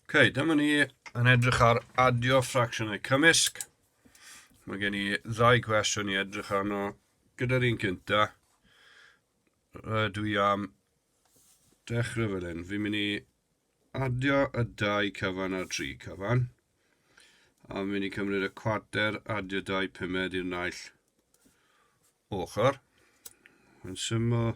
Ok, dyma ni yn edrych ar adio ffracsiynau cymysg. Mae gen i ddau gwestiwn i edrych arno. Gyda'r un cynta, dwi am dechrau fel hyn. Fi'n mynd i adio y dau cyfan a'r tri cyfan. A fi'n mynd i cymryd y cwater, adio dau pumed i'r naill ochr. Yn syml,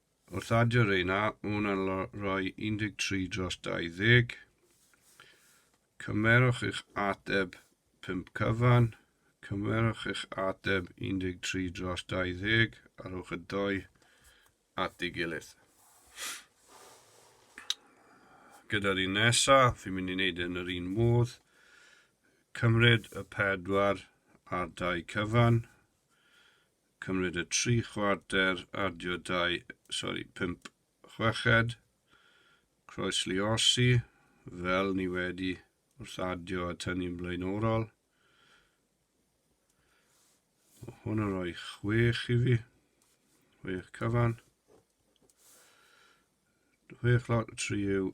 Wrth adio reina, un yn rhoi 13 dros 20. Cymerwch eich ateb 5 cyfan. Cymerwch eich ateb 13 dros 20 a rhowch y doi at ei gilydd. Gyda'r un nesaf, fi'n mynd i wneud e yn yr un modd. Cymryd y pedwar a'r dau cyfan. Cymryd y tri chwarter, adio dau, sori, pump chweched, croesliosi, fel ni wedi wrth adio a tynnu'n blaenorol. O, hwn yn rhoi chwech i fi, chwech cyfan. Chwech lot o tri yw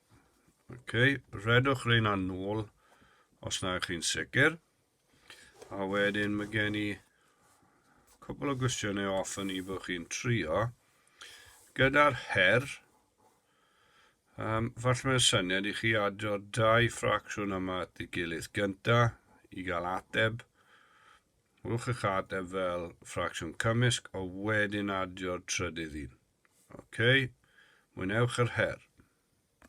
Okay, redwch reina nôl os na ych chi'n sicr. A wedyn mae gen i cwbl o gwestiynau off yn i bod chi'n trio. Gyda'r her, um, falle mae'n syniad i chi adio'r dau ffracsiwn yma at ei gilydd gynta i gael ateb. Rwch eich ateb fel ffracsiwn cymysg o wedyn adio'r trydydd un. Okay, mwynewch yr her.